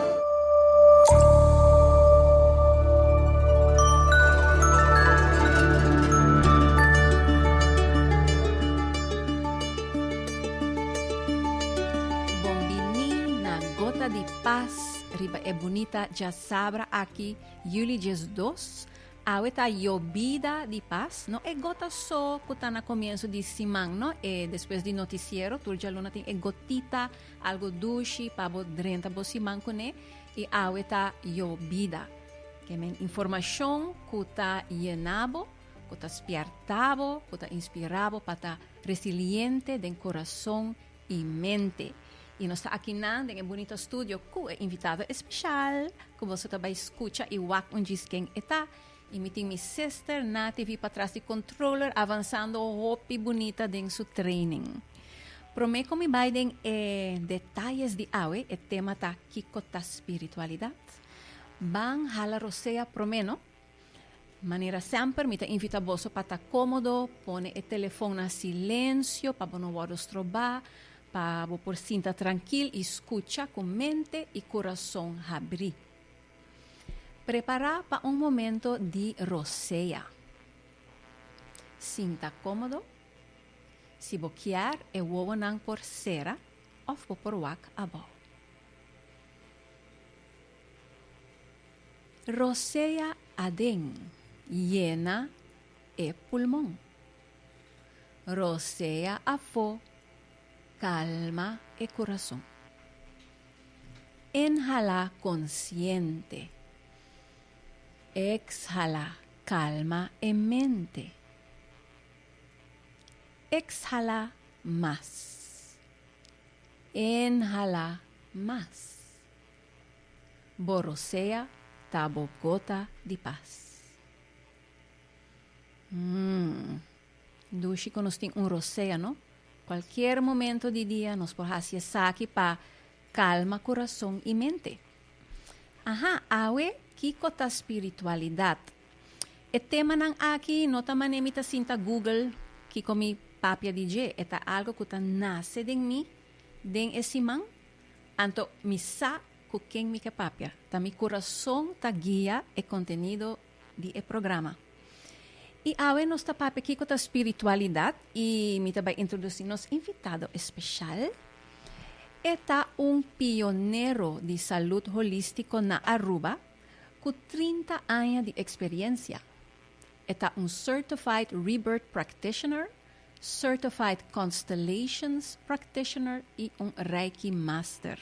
Bon bini na Gota di Pas riba e bunita djasabra aki Juli djesdos. Awe ta Yobida di Pas, no e gota so ku ta na komienso di siman no, e despues di notisiero tur djaluna tin e gotita. Algo dushi pa bo drenta bo siman kuné i awe ta yo bida. Ke men informashon ku ta yená bo, ku ta spièrtá bo, ku ta inspirá bo pa ta resiliente den kurason i mente. I nos ta akinan den e bunito studio ku e invitado espeshal ku boso ta bai skucha i wak un djis ken e ta. Y mi tin mi sister Nati vi patras di controller avanzando hopi bunita den su training. Prome con mi bay den e detalles di awe, e tema ta Kico ta spiritualidad? Ban hala rosea prome no. Manera semper mi ta invita boso pa ta comodo, pone e telefoon na silencio pa bo no wordo stroba, pa bo por sinta trankil y scucha cu mente y corazon habri. Prepará pa un momento di rosea. Sinta kómodo. Si bo kier e wowonan por sera òf bo por wak abou. Rosea aden, yena e pulmon. Rosea afó, kalma e kurason. Inhala konsiente. Ekshala kalma e mente. Ekshala mas. Inhala mas. Bo rosea ta bo gota di pas. Mmm. Dushi cu nos tin un roceano. Cualkier momento di dia nos por haci esaki pa calma curason y mente. Aha, awe kico ta spiritualidad? E temanan aki no ta manera mi ta sinta google kico mi papia di dje. E ta algo cu ta nace den mi den e siman. Anto mi sa cu ken mi ke papia. Ta mi curason ta guia e contenido di e programa. I awe nos ta papia kiko ta spiritualidat i mi ta bai introdusi nos invitado espeshal. E ta un pionero di salut holístiko na Aruba ku trinta aña di eksperiensia. E ta un Certified Rebirth Practitioner Certified Constellations Practitioner i un Reiki Master.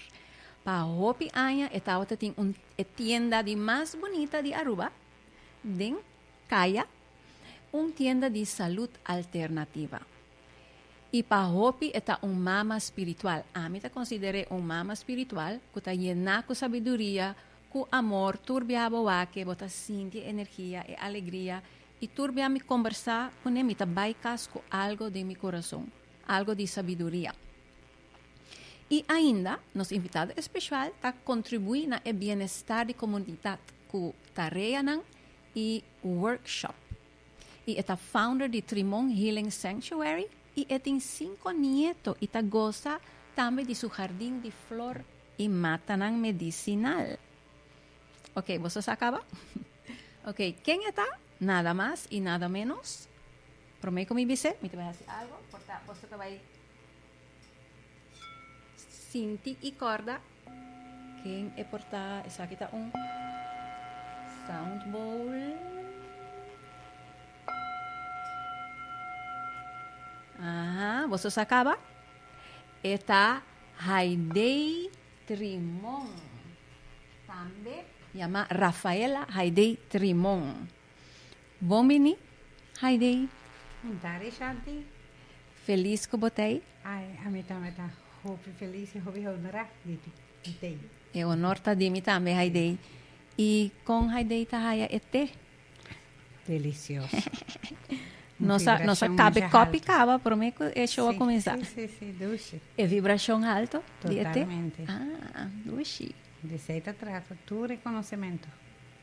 Pa hopi aña e tabata tin un e tienda di mas bunita di Aruba den Kaya, un tienda di salud alternativa. I pa hopi e ta un mama spiritual. Ami ta consider'é un mama spiritual cu ta yena cu sabiduria, cu amor tur biaha bo wak e bo ta sinti e energia, e alegria I tur bia mi kombersá ku ne mi ta bai kas ku algu den mi kurason, algu di sabiduria. I ainda nos invitado espeshual ta kontribuí na e bienestar di komunidat ku tareanan i workshop. I e ta founder di Trimon Healing Sanctuary i e tin sinku nieto i ta gosa tambe di su hardin di flor i matanan medisinal. Oke, boso sa kaba? Oke, ken e ta? Nada mas i nada ménos. Promé ku mi bis'é, mi ta bai hasi algu por ta boso ta bai sinti i kòrda ken e por ta. Esaki ta un sound bowl. Aha, boso sa kaba? E ta Haidee. Trimon, tambe yamá Rafaela Haidey Trimon. Bon bini, Haidey. Un tarde Shanti. Felis ku bo ta ei? Ai, ami tambe ta hopi felis i hopi honra di di te. E honor ta di mi tambe, Haidey. I kon Haidey ta haya e te? Delicioso. Nos a nos a cabe cop y cava prome cu e show a comenzá. Sí, sí, sí, dushi. E vibracion alto di e té. Totalmente. Ah, dushi. Di esei ta trata tur reconocimento.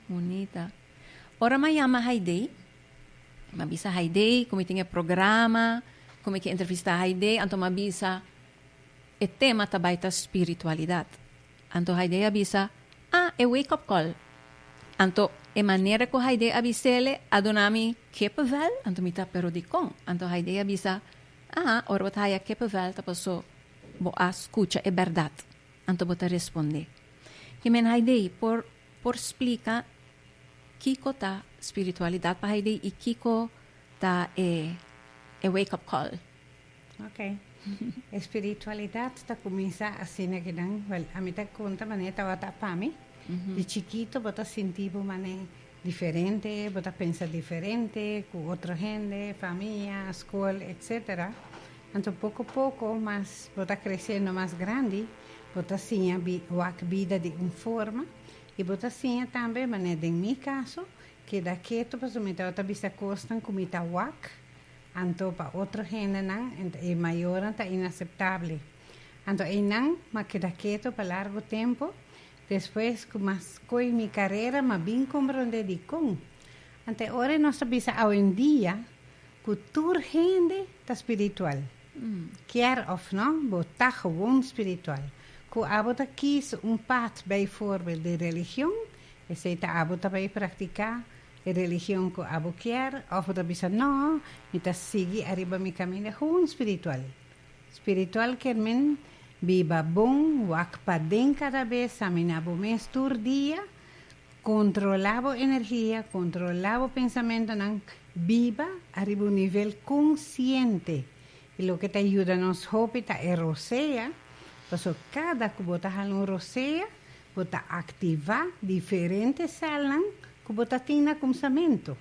Bunita. Ora mi a yama Haidee, mi a bisa Haidee ku mi tin e programa, ku mi ke entrevistá Haidee, anto mi a bisa e tema ta bai ta spiritualidat. Anto Haidee a bisa, Ah, e wake up call. Anto e manera cu Haidee a bisele a duna mi kippenvel, anto mi ta, Pero dicon? Anto Haidee a bisa, Ah, ora bo ta haya kippenvel ta paso bo a scucha e berdad. Anto bo ta responde, Ki men Haidee por por splica kico ta spiritualidad pa Haidee y kico ta e e wake up call? Ok. E spiritualidat ta kuminsá asina ke nan. Wèl, ami ta konta manera tabata pa mi. Di chikito bo ta sinti bo manera diferente, bo ta pensa diferente ku otro hende, famia, skol, etsetera. Anto poko poko mas bo ta kresendo mas grandi, bo ta siña bi, wak bida di un forma i bo ta siña tambe manera den mi kaso, keda ketu pasobra mi tabata bisa kosnan ku mi ta wak Anto pa otro hendenan enta e mayornan ta inaseptabel. Anto einan m'a keda keto pa largu tempu, despues ku m'a skohe mi karera m'a bin komprondé dikon. Anto ora nos ta bisa awendia ku tur hende ta spiritual. Kier òf no, bo ta gewoon spiritual. Ku abo ta kis un pat, beivoorbeeld di religion, esei ta abo ta bai praktiká. e religion cu abo kier of bo ta bisa no, mi ta sigui ariba mi caminda hun spiritual. Spiritual kier mean biba bon, wak paden cada bes, samina bo mes tur dia, controla bo energia, controla bo pensamentonan, biba ariba un nivel consciente. Y loke ta yuda nos hopi ta e rosea, pasobra cada cu bo ta hala un rosea Bo ta aktivá diferente sèlnan ku bo ta tin na kumsamentu.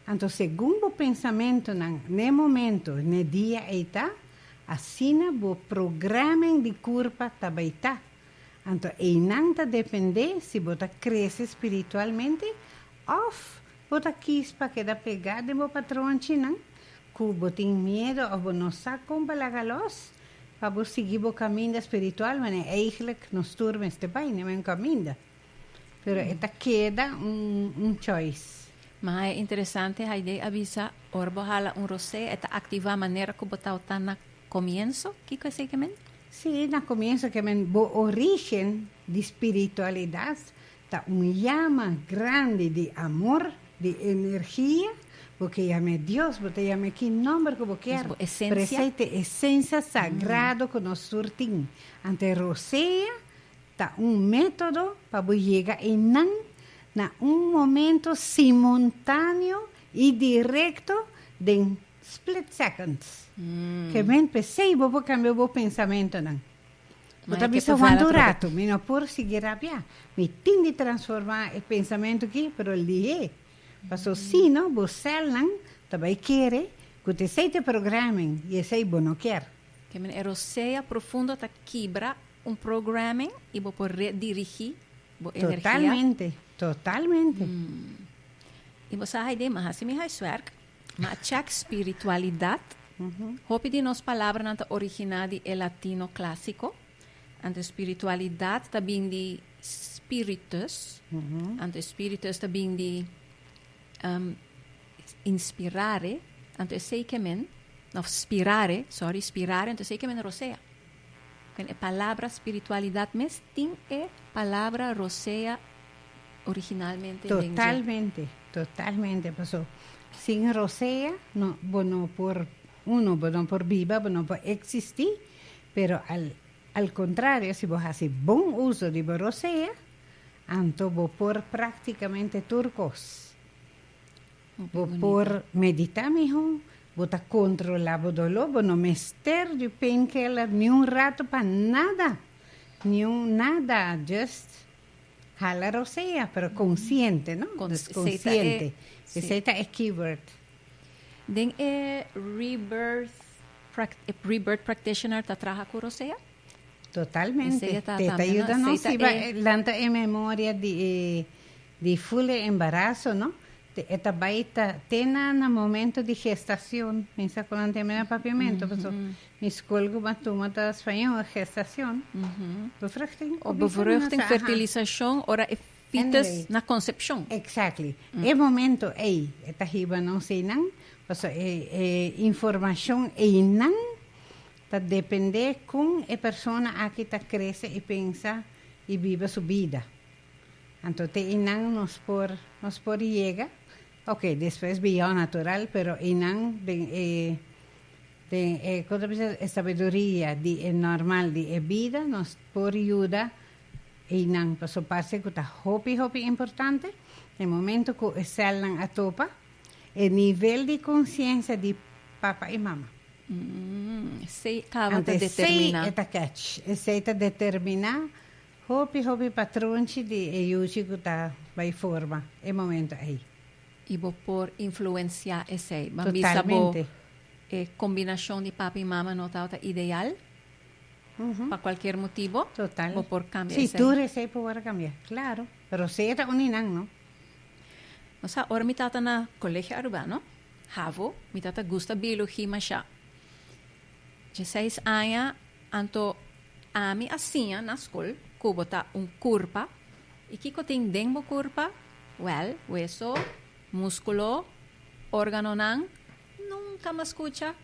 Anto segun bo pensamentunan n'e momentu n'e dia ei ta, asina bo progrèmen di kurpa ta bai ta. Anto einan ta dependé si bo ta krese spiritualmente òf Bo ta kies pa keda pegá den bo patronchinan ku bo tin miedu òf bo no sa kon pa laga lòs pa bo sigui bo kaminda spiritual wanneer eigelijk nos tur mester bai na e men kaminda. Pero e ta keda un choice. Ma e interesante Haidee a bisa, ora bo hala un rosé e ta aktivá manera ku bo tabatá na komienso. Kiko esei ke men? Sí, na komienso ke men bo orígen di spiritualidat Ta un yama grandi di amor, di energia, bo ke yam'é Dios, bo ta yam'é ki nòmber ku bo kier, pero esei ta e esensia sagrado ku nos tur tin. Anto e rosea ta un método pa bo yega einan na un momento simontaneo i direkto den split seconds. Kèmen p'esei bo por kambia bo pensamentonan. Bo ta bisa hondo un ratu mi no por sigui rabia. Mi tin di transforma e pensamentu aki pero el dih'é. Paso sino bo celnan ta bai kere cu ta esey ta e programming y esey bo no kier. Kemi e rosea profundo ta kibra un programming y bo por redirigi bo energia. Totalmente, totalmente. Y bo sa hay dema hasi mi huiswerk. Ma check spiritualidad, Hopi di nos palabranan ta originá di e latino clásico. Anto spiritualidad ta bin di spiritus. Anto spiritus ta bin di inspirare. Anto esei ke men, òf spirare, sorry, spirare, anto esei ke men rosea. Bueno e palabra spiritualidad mes tin e palabra rosea originalmente den dje? Totalmente, totalmente, paso sin rosea no bo no por uno bo no por biba bo no por existi pero al al contrario si bo hasi bon uso di bo rosea anto bo por practicamente tur cos Bo por meditá mihó, Bo ta kontrolá bo doló, bo no mester di painkiller niun rato pa nada, niun nada, just hala rosea, pero konsiente, no deskonsiente. Esei ta e keyword. Den e rebirth, e rebirth practitioner ta traha ku rosea? Totalmente, te ta yuda nos hiba lanta e memoria di e. Di fule embaraso no te e ta bai ta te na na momento di gestacion mi sa cu nan tin mira papiamento paso mi school cu ban tuma ta spañol e gestacion bevruchting o bevruchting fertilisacion ora e fites na concepcion exactly e momento ey e ta hiba nos ey nan paso e e informacion ey nan ta depende con e persona aki ta crece y pensa y biba su bida. Anto te einan nos por nos por yega ok despues beyond natural pero einan den e den e kon ta bisa e sabiduria di e normal di e bida nos por yuda einan paso parse ku ta hopi hopi importante den momento ku e sèlnan a topa e nivel di konsiensia di papa i mama esei kaba ta determiná anto esei e ta kèch esei ta determiná Hopi hopi patronchi di e yuchi ku ta bai forma e momento ei. I bo por influenciá esei. Ban bisa bo e kombinashon di pape i mama no tabata ideal pa kualkier motibo. Bo por kambia esei. Si tur esei por wòrdu kambia. Klaru. Roseta uni nan no. No sa ora mi tabata na Colegio Arubano, havo, mi tabata gusta biologi mashá. Dieseis aña anto ami a siña na skol ku bo ta un kurpa. I kiko tin den bo kurpa? Wèl, weso, múskulo, órganonan, nunka mas kucha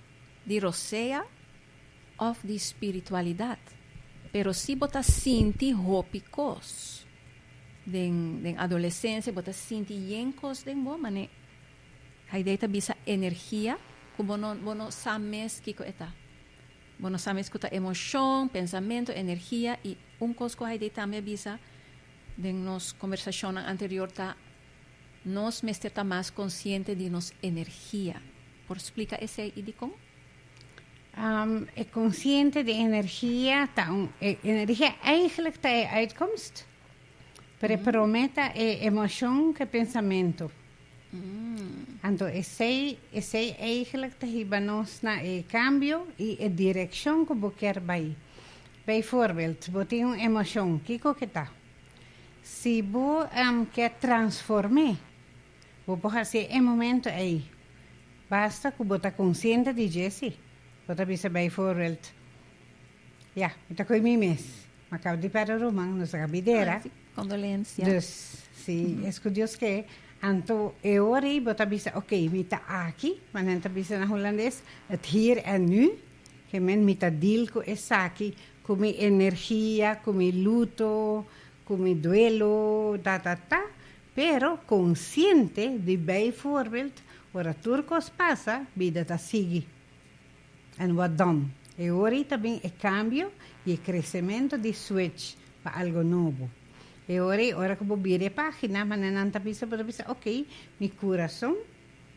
di rosea òf di spiritualidat. Pero si bo ta sinti hopi kos den adolesensia, bo ta sinti yen kos den bo, mane. Haidee ta bisa energia ku bo no bo no sa mes kiko e ta. Bo no sa mes ku ta emoshon, pensamentu, energia i un kos ku Haidee tambe a bisa den nos kombersashonnan anterior ta nos mester ta mas konsiente di nos energia. Por splika esei i dikon? E konsiente di energia ta un e energia eigentlik ta e uitkomst. Pero e promé ta e emoshon ku e pensamentu. Anto esei esei eigelik ta hiba nos na e kambio i e direkshon ku bo kier bai. Bij voorbeeld, bo tin un emoshon, kiko ke ta? Si bo kier transform'é, bo por hasié e momento ei. Basta ku bo ta konsiente di dje si. Bo ta bisa bij voorbeeld. Ya, mi ta koe mi mes. Ma kaba di Pèrdè Ruman, nos a ka bidera. Kondolensia. Dus, si es ku Dios ke, anto e ora ei bo ta bisa, ok, mi ta aki, ma nan ta bisa na hulandes, het hier en nu, ke men mi ta deal ku esaki, ku mi energia, ku mi luto, ku mi duelo, ta ta ta, pero konsiente di bai voorbild, ora tur kos pasa, bida ta sigui. En Wadom, e hori ta bin e kambio i e kresementu di switch pa algo nobo. E hori ora ku bo bira e página, manenan ta bisa bo ta bisa, ok, mi kurason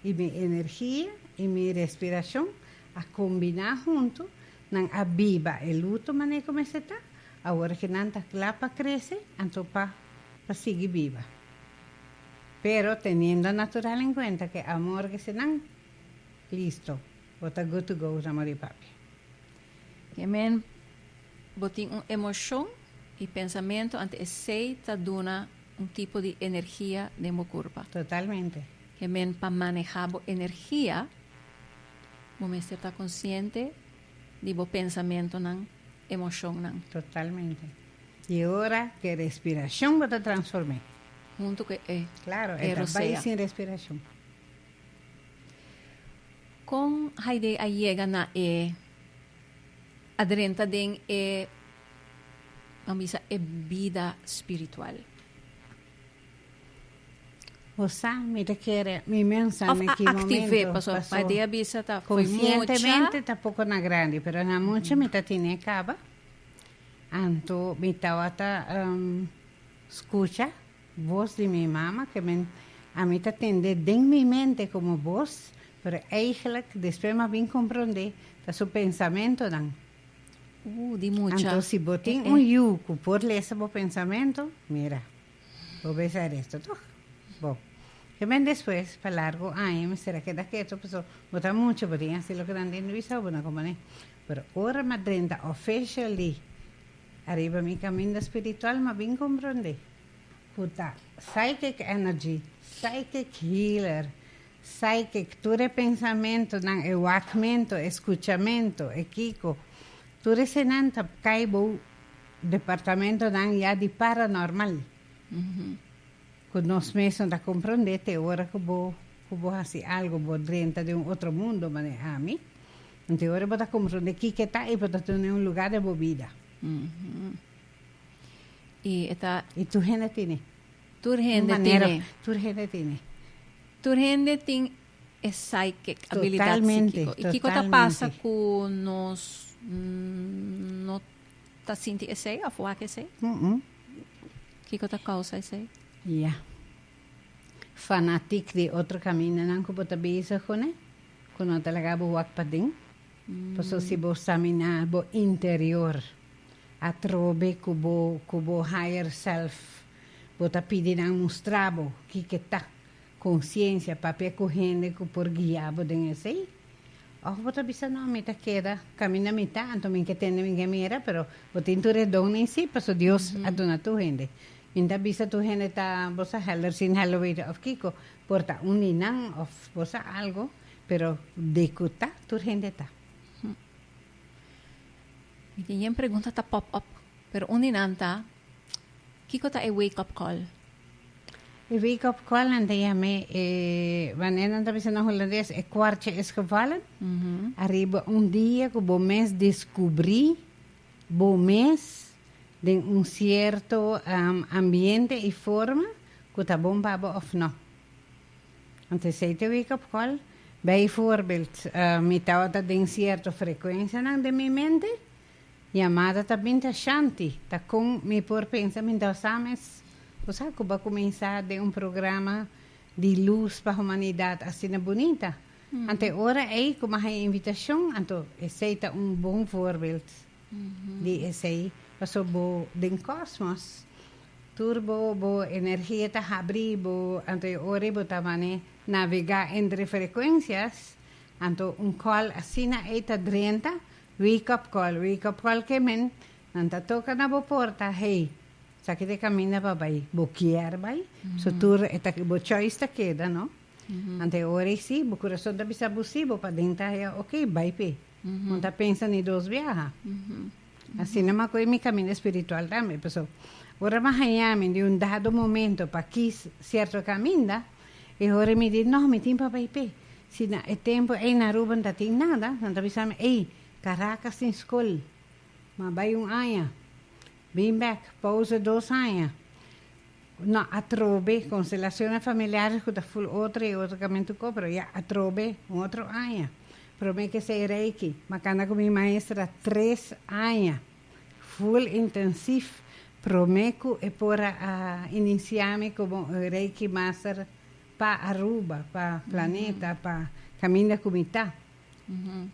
i mi energia i mi respirashon a kombiná huntu, nan a biba e luto manera ku mester ta, awor ku nan ta kla pa krese, anto pa pa sigui biba. Pero teniendo natural en kuenta ku e amor kese nan listo Bo ta good to go sa mari e papi. Amen Bo tin un emocion y pensamento ante esey ta duna un tipo di energia den bo curpa. Totalmente. Amen Pa maneha bo energia bo mester ta consciente di bo pensamentonan, emocionnan. Totalmente. Y e ora cu e respiracion bo ta transforme. Hunto cu e rosea. Claro, e ta bay sin respiracion. Kon Haidee a yega na e a drenta den e ban bisa e bida spiritual? Hosa mi ta kere mi mensa na ki momento paso konsientemente ta poko na grandi pero na mucha mi ta tine e kaba anto mi tabata skucha. Bos di mi mama ke men a mi ta tendé den mi mente komo bos, pero eigelijk despues m'a bin komprondé ta su pensamentonan. Ooh, di mucha. Anto si bo tin un yu ku por lesa bo pensamentu, mira, bo besa reto tòg. Bo. Ke men despues pa largu aña mester a keda ketu pasobra bo ta mucha, bo tin hasi loke nan tin di bisao bo na ku manera. Pero ora m'a drenta officially. Ariba mi caminda spiritual m'a bin comprende cu ta psychic energy, psychic healer, psychic, tur e pensamentonan, e wakmento, e scuchamento, e kico, tur esenan ta cay bou departamentonan ya di paranormal, cu nos mes no ta comprende te ora cu bo haci algo, bo drenta den un otro mundo manera ami. Anto ora bo ta komprondé kiko ta i bo ta tuna un lugá den bo bida. I e ta. I tur hende tene. Tur hende tene. Tur hende tene. Tur hende tin e psychic, abilidat psíkiko. I kiko ta pasa ku nos no ta sinti esei òf wak esei? Kiko ta kousa esei? Ya. Fanatik di otro kamindanan ku bo ta bisa kuné? Cu no ta laga bo wak paden. Paso si bo saminá bo interior, atrobe cu bo cu bo higher self, bo ta pidi nan mustra bo kico ta conciencia, papia cu hende cu por guia bo den esey. Of bo ta bisa no mi ta keda cami na mita, anto mi ke tende mi ke mira, pero bo tin tur e don in si, paso Dios a duna tur hende. Mi ta bisa tur hende ta bo sa helder sin helder weten of kico, Por ta un di nan of por sa algo, pero de cu ta, tur hende ta. Mi tin yen pregunta ta pop up, pero un di nan ta, kico ta e wake up call? E wake up call nan ta yam'e e, wanneer nan ta bisa na Holandes, e kwartje is gevallen. Ariba un dia cu bo mes descubri bo mes den un cierto ambiente y forma Cu ta bon pa bo of no. Anto esey ta wake up call. Bijvoorbeeld, mi tabata den cierto frecuencianan den mi mente. Yamada ta bin ta Shanti, ta con mi por pensa mi ta sa mes. Bo sa cu bo a cuminsa den un programa di luz pa humanidad asina bunita. Anto e ora ey cu mi a haya invitacion, anto esey ta un bon voorbeeld di esey. Pasobra bo den cosmos. Tur bo bo energia ta habri bo anto e ora bo ta mane navega entre frecuencias anto un call asina ey ta drenta wake up call wake up call ke men nan ta toca na bo porta hey saki ta e caminda pa bay bo kier bay so tur e ta bo choice ta keda no anto e ora ey si bo corazon ta bisa bo si bo pa den ta haya okay bay p'e. Bo ta pensa ni dos biaha. Asina maku e mi kaminda espiritual tambe. Pasobra ora bo a haña mi di un dado momento pa kis sierto kaminda, e ora mi di no, mi tin pa bai p'e. Si na e tempu ei na Aruba no ta tin nada, nan ta bisa mi, ei, Karakas tin skol, m'a bai un aña, bin bèk, pouze dos aña. No atrobe, konstelacionnan familiares ku ta ful otro i otro kamen tu ko, pero ya atrobe un otro aña. Promé kesei Reiki, ma kanda ku mi maestra tres aña ful intensif promé ku e por a inisiá mi komo un Reiki master pa Aruba, pa planeta, pa kaminda ku mi ta.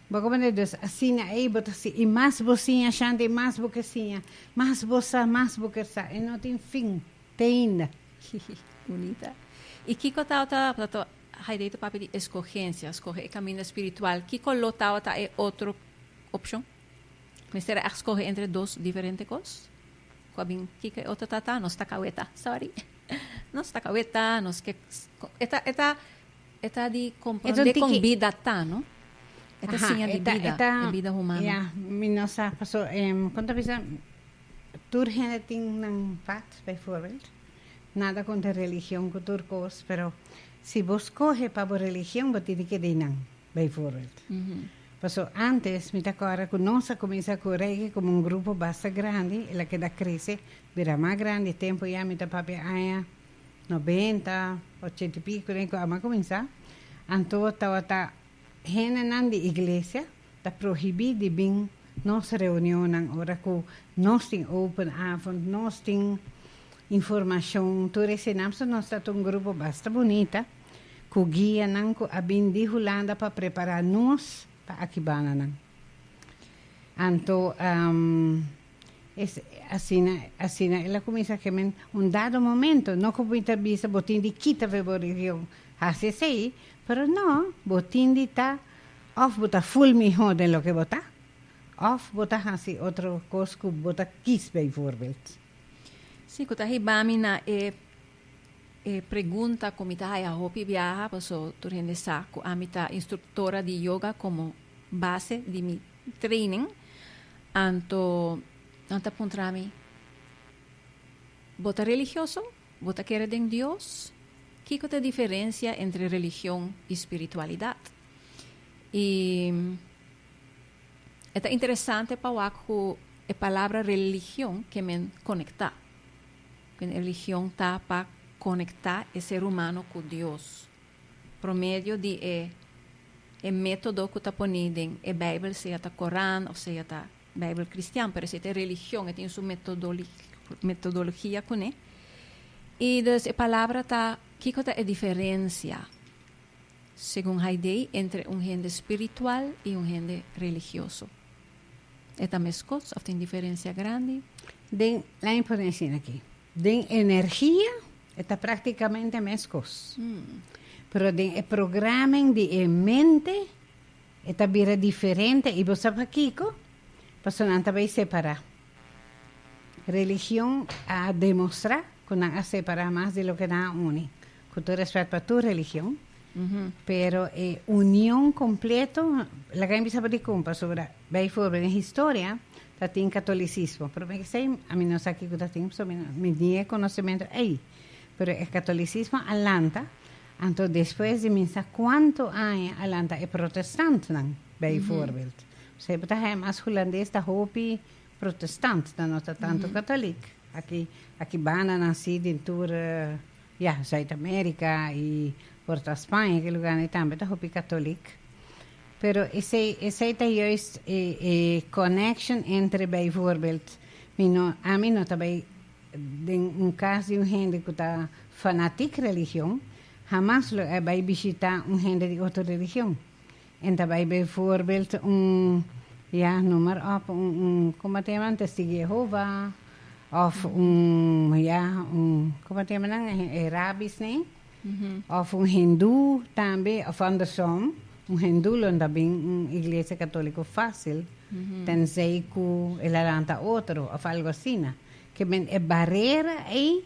Bo komo na Dios, asina ei bo ta siña, i mas bo siña ashante, i mas bo ke siña, mas bo sa, mas bo ker sa, i no tin fin, teinda. Hihih, bunita. I kiko tabata haidei ta papia di eskogensia, skohe e kaminda spiritual? Kiko lo tabata e otro opshon? Mester a skohe entre dos diferente kos? Ku a bin kika e otro tata, nos ta kaweta, sòri, nos ta kaweta, nos ke, e ta, e ta E ta di kompronde kon bida ta, no? E ta siña di bida, e bida humano. Ya, mi no sa paso kon ta bisa tur hende tin nan pat, bijvoorbeeld. Nada kontra religion ku tur kos, pero si bo skohe pa bo religion bo tene ke di nan, bijvoorbeeld. Paso ántes mi ta kòrda ku nos a kuminsá ku rege komo un grupo basta grandi, el a keda krese bira mas grandi. E tempu ya mi ta papia aña Nobenta, ochenta i pico den cu a cuminsa, anto tawata hendenan di iglesia ta prohibi di bin nos reunionnan ora cu nos tin open avond, nos tin informacion, tur eseinan. So nos ta un grupo basta bunita cu guianan cu a bin di Hulanda pa prepara nos pa aki bananan. Anto. Asina, asina el a cuminsa keme un dado momento, no cu mi ta bisa bo tin di kita fe bo religion haci esey, pero no, bo tin di ta of bo ta full miho den loke bo ta, of bo ta haci otro cos cu bo ta kies bijvoorbeeld. Si cu ta hiba mi na e. E pregunta cu mi ta haya hopi biaha paso tur hende sa cu ami ta instructora di yoga como base di mi training. Anto nan ta puntra mi, Bo ta religioso? Bo ta kere den Dios? Kico ta e diferencia entre religion y spiritualidad? Y e ta interesante pa wak cu e palabra religion ke men conecta. Mi religion ta pa konektá e ser humano ku Dios pro medio di e e método ku ta poní den e Beibel, sea ta Koran òf sea ta Beibel kristian, pero si ta e religion e tin su metodologia kuné. I dus e palabra ta kiko ta e diferensia, segun Haidei, entre un hende spiritual i un hende religioso? E ta mescos of tin diferencia grandi? Den, laimi por den asina aki. Den energia e ta practicamente mescos. Pero den e programming di e mente e ta bira diferente y bo sa pakico? Pasobra nan ta bay separa. Religion a demostra cu nan a separa mas di loke nan a uni. Ku tur respèt pa tur religion, pero e union kompleto laga mi bisa pa dikon, pasobra bai forbel den historia ta tin katolisismo, pero mi esei a mi no sa kiko ta tin pasobra mi no mi tin e konosementu ei, pero e katolisismo a lanta, anto despues di mi sa kuantu aña a lanta e protestantnan bai forbel, p'esei bo ta haña mas hulandes ta hopi protestant, nan no ta tantu katolik, aki aki banda nan si den tur. Ya, Zuid-Amerika i por ta Spaña i ki luganan i tambe ta hopi katolik. Pero esei, esei ta juist e, e connectio entre bijvoorbeeld mi no, ami no ta bai den un kas di un hende ku ta fanatik religion, hamas lo e bai bishitá un hende di otro religion. En ta bai bijvoorbeeld un, ja, noem maar op, un, como a ta yama, un Testigo di Jehova, of un, ja, un, como a ta yama nan, e rabbis nee, of un hindu tambe, of andersom, un hindu lo ta bin un iglesia católico fácil, tenzij cu el a lanta otro of algo asina. Ke men e barera ei.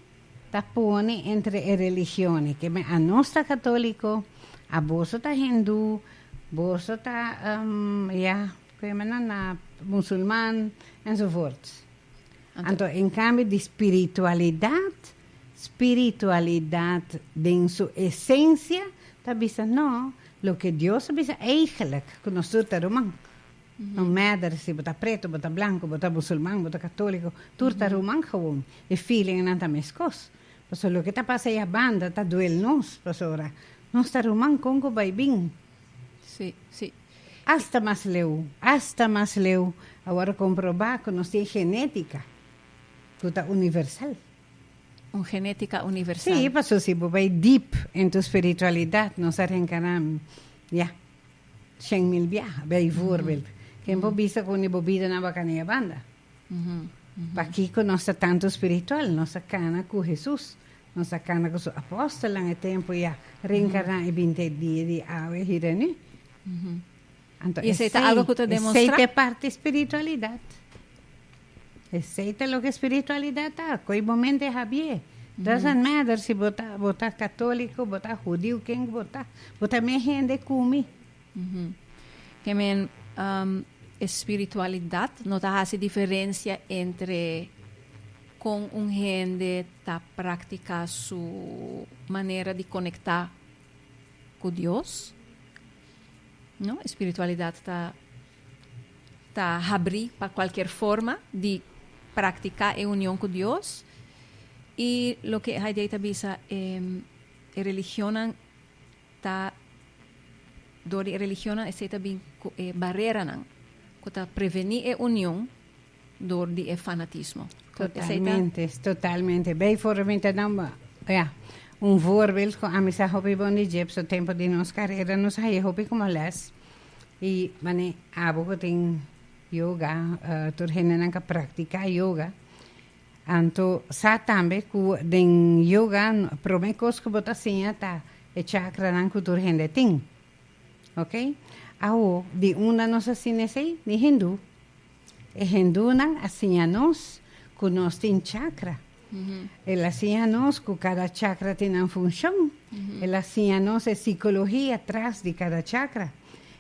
ta pone entre e religionen, keme a nos ta katoliko, a boso ta hindu, boso ta ya ku e menan na musulman enzovoorts. Anto en kambio di spiritualidat, spiritualidat den su esensia ta bisa no, loke Dios a bisa eigelijk ku nos tur ta ruman, No matter si bo ta preto, bo ta blanco, bo ta musulman, bo ta catolico, tur ta ruman gewoon. E feeling nan ta mescos. Paso loke ta pasa ya banda ta duel nos, pasora nos ta ruman conco bay bin. Sí, sí. Hasta mas leu, hasta mas leu, a worde comproba cu nos tin genetica cu ta universal. Un genetica universal. Sí, paso si bo bay deep en tu spiritualidad, nos a reencarna, ya. Shen mil biaha. Bijvoorbeeld, ken bo bisa ku uni bo bida na bakanea banda? Pakiko nos ta tantu spiritual? Nos a kana ku Hesus. Nos a kana ku su apòstelnan e tempu ya reenkarná i binte dia di awe hira nú. Anto esei ta algu ku ta demonstrá. Esei ta e parti spiritualidat. Esey ta loke spiritualidad ta, koe bo mente habié. Doesn't matter si bo ta bo ta catolico, bo ta hudiu, ken ku bo ta, bo ta mes hende ku mi. Ke men espiritualidad no ta hasi diferensia entre kon un hende ta praktiká su manera di konektá ku Dios. No, espiritualidad ta ta habrí pa kualker forma di praktiká e union ku Dios. I loke Heidei ta bisa, e religionnan ta dor di e religionnan esei ta bin ku e bareranan ku ta prevení e union dor di e fanatismo. Totalmente, totalmente. Bay for mi ta dam ya un voorbeeld cu ami sa hopi bon di Jeps so tempo di nos carera nos haya hopi como les y mane abo cu tin yoga tur hendenan ca practica yoga anto sa tambe cu den yoga prome cos cu bo ta siña ta e chakranan cu tur hende tin okay awo di unda nos a sina esey di hindu. E hindunan a siña nos ku nos tin chakra. El a siña nos ku kada chakra tin nan funshon. El a siña nos e sikologia tras di kada chakra.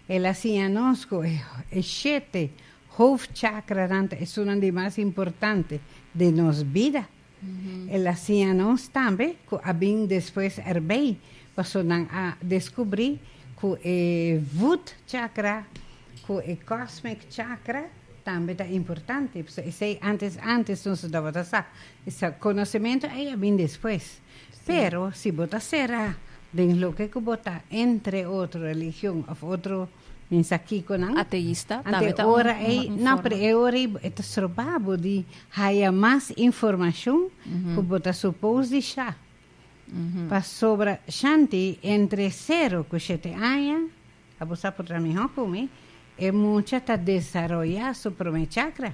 El a siña nos ku e shete hof chakranan ta esunnan di mas importante den nos bida. El a siña nos tambe cu a bin despues erbey, pasobra nan a descubri cu e Wood Chakra cu e Cosmic Chakra tambe ta importante. Pasobra esey antes antes nos no tabata sa. E conocimento ey a bin despues. Pero si bo ta cera den loke cu bo ta entre otro religion of otro Pensa kiko nan? Ateista tambe ta un informe. Ante ora ei, nan pre e ora ei bo ta stroba bo di haya mas informashon ku bo ta supos di sha. Pasobra shanti entre sero ku shete aña, a bo sa por tra mihó ku mi, e mucha ta desaroyá su promé chakra,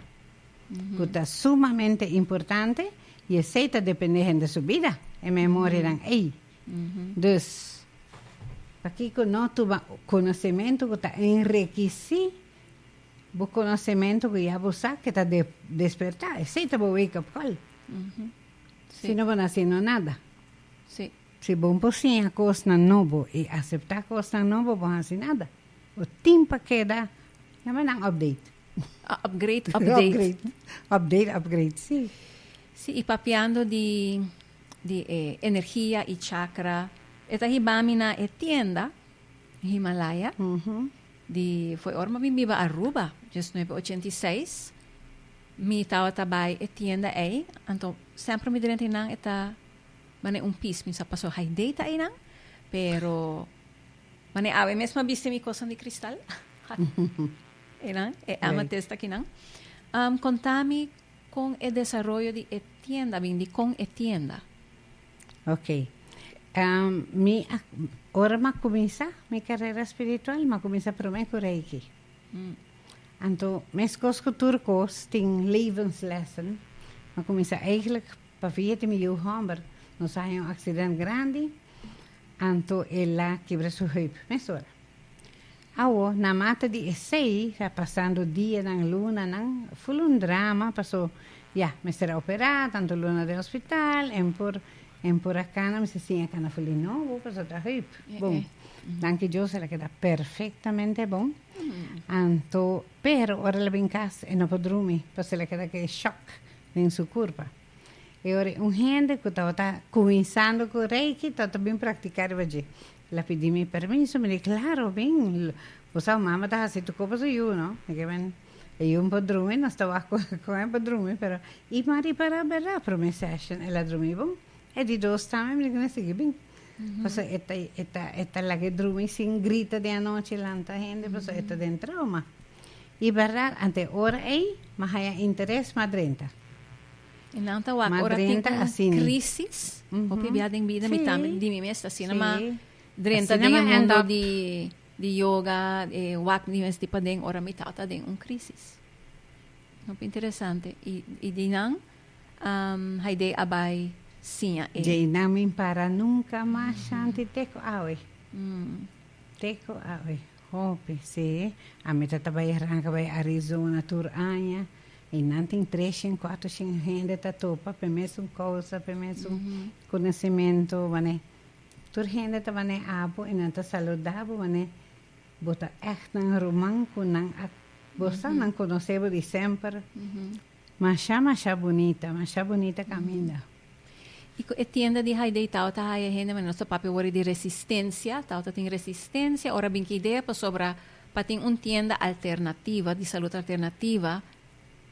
ku ta sumamente importante i esei ta dependé hende su bida, e memorianan ei. Dus, pakiko no tuma konosementu ku ta enrekisí bo konosementu ku ya bo sa ke ta despertá? Esei ta bo wake up call. Si no bo no hasiendo nada. Si bo por siña kosnan nobo i aseptá kosnan nobo bo no hasi nada. Bo tin pa keda, yama nan update. Upgrade, update. Upgrade, upgrade, si. Si, i papiando di. di e energia y chakra e ta hiba mi na e tienda Himalaya di fue ora mi biba Aruba dies nuebe ochenta y seis mi tabata bay e tienda ey anto semper mi drenta eynan e ta mane un pis mi sa paso hay data eynan pero mane awe mes mi a bisti mi cosnan di cristal eynan e amethyst akinan contami. Con e desaroyo di e tienda bin di con e tienda? Ok. Mi a, ora mi a cuminsa mi carera spiritual, mi a cuminsa prome cu Reiki. Anto, mescos cu tur cos tin levenslessen. Mi a cuminsa eigenlijk pa via di mi yu homber. Nos a haña un accident grandi, anto el a kibra su heup mesora. Awo na mata di esei ta pasando dianan, lunanan full un drama paso ya mester a operá tanto luna den hospital en por en por a cana mester siña cana full di nobo paso ta hüip bon danki Dios el a keda perfectamente bon anto pero ora el a bin cas e no por drumi paso el a keda ke shock den su curpa e ora un hende ku tabata cuminsando ku reiki tabata bin practica riba dje La pidi mi permiso, mi di claro bin, bo sa mama ta hasi tur copa su yu no, mi kiba e yu por drumi nos ta wak con e por drumi pero y mi a ripara berdad prome session el a drumi bon e di dos tambe mi di kina sigui bin paso e ta e ta e ta laga e drumi sin grita den anochi lanta hende paso e ta den trauma y berdad anto e ora ey mi a haya interes mi a drenta. Y nan ta wak ora tin un crisis. Hopi bia den bida mi ta di mi mes asina. Ma drenta den e mundo di yoga, e wak di mes di paden ora mi tata den un crisis. Hopi interesante. Y di nan Haidee a bai siña e. Dje nan mi para nunca mas, Shanti, te ku awe. Te ku awe. Hopi, sí. Ami ta ta bai arranca bai Arizona tur aña y nan tin tres shin, cuatro shin hende ta topa p'e mesun causa, p'e mesun conocimiento, wani. Tur hende ta wani abo y nan ta saluda bo wani bo ta echtnan ruman cu nan a, bo sa nan conoce bo di semper. Masha masha bunita, masha bunita caminda. Y cu e tienda di Haidee tawata haya hende manera nos ta papia worde di resistencia, tawata tin resistencia, ora bin ki idea pasobra pa tin un tienda alternativa, di salud alternativa,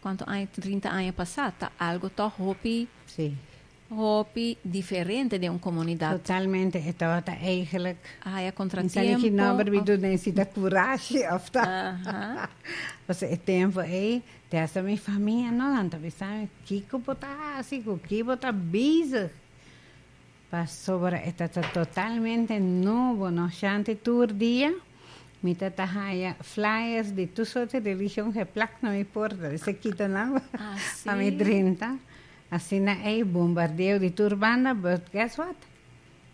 cuanto aña, trinta aña pasa ta algo tog hopi. Sí. Hopi diferente den un comunidad. Totalmente e tabata eigenlijk. A haya contratiempo. Tin saliki nomber wi do necesita curashi of ta. Paso e tempo ey te hasta mi famia no nan ta bisa mi kico bo ta haci cu ki bo ta bezig pasobra e ta ta totalmente nubo no shanti tur dia mi ta ta haya flyers di tur soorti religion geplak na mi porta mi sa kita nan pa mi drinta. Asina ey bombardeo di tur banda but guess what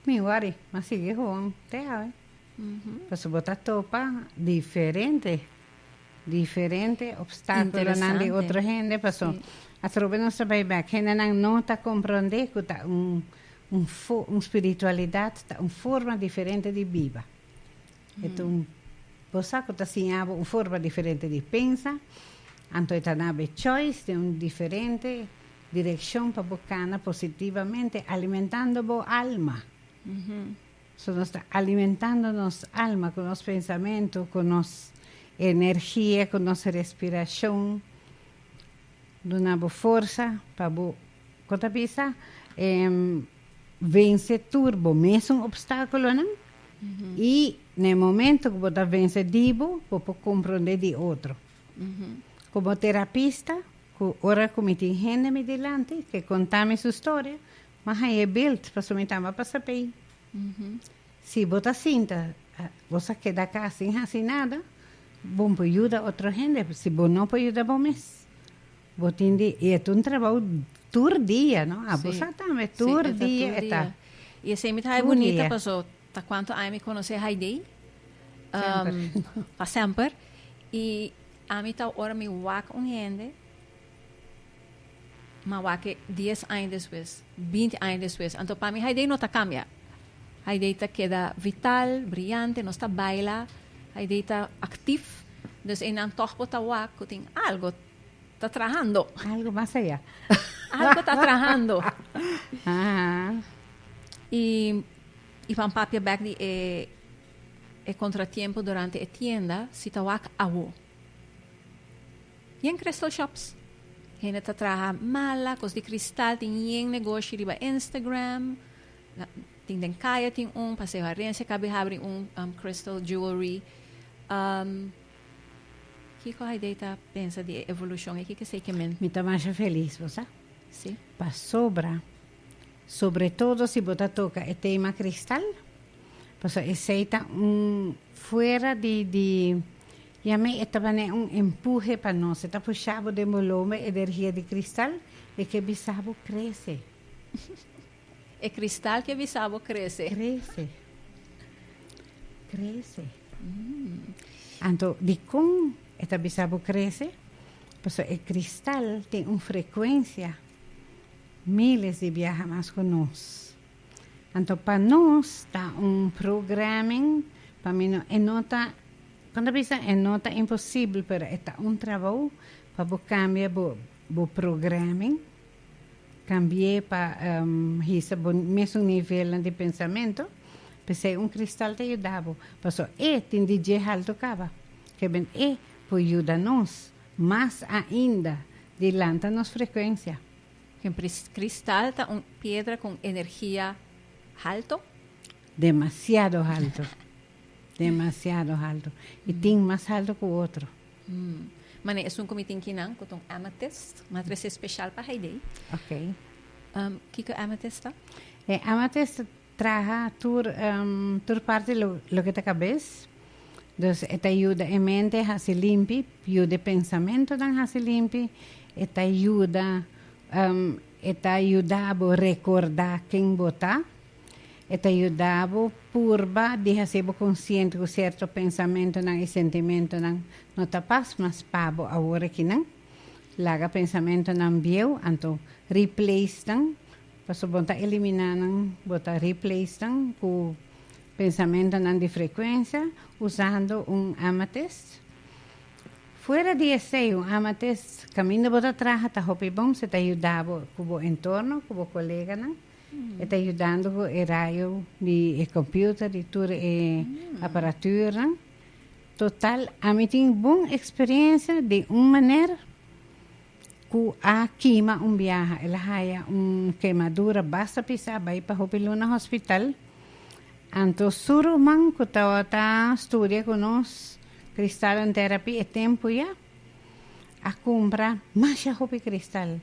mi worry m'a sigui gewoon te awe paso bo ta topa diferente diferente obstaculonan di otro hende paso atrobe nos ta bay bek hendenan no ta compronde cu ta un un spiritualidad ta un forma diferente di biba Enton, bo sa ku ta siña bo un forma diferente di pensa, anto e ta na bo e choice di un diferente direkshon pa bo kana positivamente, alimentando bo alma. So nos ta alimentando nos alma ku nos pensamentu, ku nos energia, ku nos respirashon, duna bo forsa pa bo Cu ta bisa vense tur bo mesun obstaculonan y na e momento cu bo ta vense di bo, bo por compronde di otro. Como terapista cu ora cu mi tin hende mi dilanti ke conta mi su storia mi haya e beeld pasobra mi tamba pa sabi si bo ta sinta bo sa keda aca sin haci nada bo por yuda otro hende si bo no por yuda bo mes. Bo tin di i e ta un trabou tur dia no a bo sa tambe tur dia e ta i esei mi ta ha'i bunita paso ta kuantu aña mi konos'é Haidee pa semper i ami ta ora mi wak un hende ma wak'é dies aña despues binti aña despues anto pa mi Haidee no ta kambia Haidee ta keda vital briante nos ta baila Haidee ta aktif dus einan tog bo ta wak ku tin algo. Ta trahando. Algo mas allá. Algo ta trahando. Ajá. Y, y van papia back di e, e contratiempo durante e tienda, si ta wak awo. Yen crystal shops. Hende ta traha mala, cos di cristal, tin yen negoshi riba Instagram. La, tin den kaya tin un, Paseo Harencia, Kabi habri un um, crystal jewelry. Um, Kiko Haidee ta pensa di e evolushon e kikes ei ke men? Mi ta masha felis, bo sa? Sí. Pasobra, sobretodo si bo ta toka e tema kristal, pasobra esei ta un fuera di di yam'ei e ta bane un empuhe pa nos, e ta pusha bo den bo lomber energia di kristal e ke bisa bo krese. E kristal ki a bisa bo krese. Krese. Krese. Anto dikon e ta bisa bo krese? Pasobra e kristal tin un frekuensia miles di biaha mas ku nos. Anto pa nos ta un programming pa mi no e no ta kon ta bisa e no ta imposibel pero e ta un trabou pa bo kambia bo bo programming Kambi'é pa hisa bo mesun nivelnan di pensamentu, p'esei un kristal ta yuda bo, pasobra e tin di dje haltu kaba. Kebien e por yuda nos mas ainda di lanta nos frekuensia. Un kristal ta un piedra ku un energia haltu? Demasiado haltu. Demasiado haltu. E tin mas haltu ku otro. Hm. Manera esun ku mi tin ki nan ku ta un amethyst, mi a trese speshal pa Haidee. Oké. Hm, kiko e amethyst ta? E amethyst ta traha tur, hm, tur parti lo, loke ta kabes. Dus e ta yuda e mente hasi limpi, yuda e pensamentunan hasi limpi, e ta yuda, hm, e ta yuda bo rekordá ken bo ta. E ta yuda bo purba di hasi bo konsiente ku sierto pensamentunan i sentimentunan no ta pas mas pa bo awor aki nan. Laga pensamentunan bieu, anto replace nan, pasobra bo no ta eliminá nan, bo ta replace nan ku pensamentunan di frekuensia usando un ametist. Fuera di esei, un ametist kaminda bo ta traha ta hopi bon si ta yuda bo ku bo entorno, ku bo koleganan. E ta yudando ku e rayo di e kompiuter, di tur e aparaturnan. Total, ami tin bon eksperiensia di un muner ku a kima un biaha. El a haya un kemadura basta pisá, bai pa hopi luna hospital. Anto su ruman ku tabata studia ku nos kristal en terapi e tempu ya, a kumpra masha hopi kristal.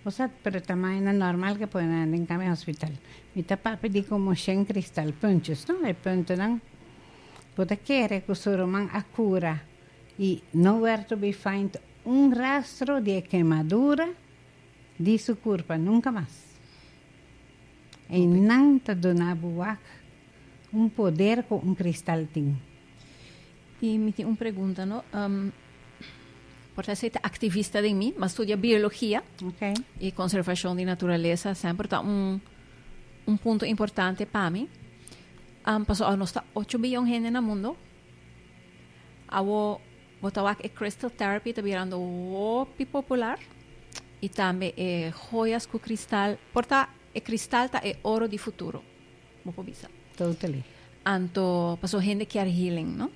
Bo sa pero ta maina normal ke pone nan den kami hospital. Mi ta papia di konmoshen kristal, puntus no, e puntunan. Bo ta kere ku su ruman a kura i no wèrt to bi faind un rastro di e kemadura di su kurpa nunka mas. Einan ta duna bo wak un poder ku un kristal tin. Y mi tin un pregunta no, por ta esey ta activista den mi, m'a studia biologia y conservacion di naturaleza semper ta un punto importante pa mi. Paso awor nos ta ocho billon hende na mundo, awor bo ta wak e crystal therapy ta birando hopi popular y tambe e joyas cu cristal, por ta e cristal ta e oro di futuro. Bo por bisa. Totally. Anto, paso hende kier healing, no?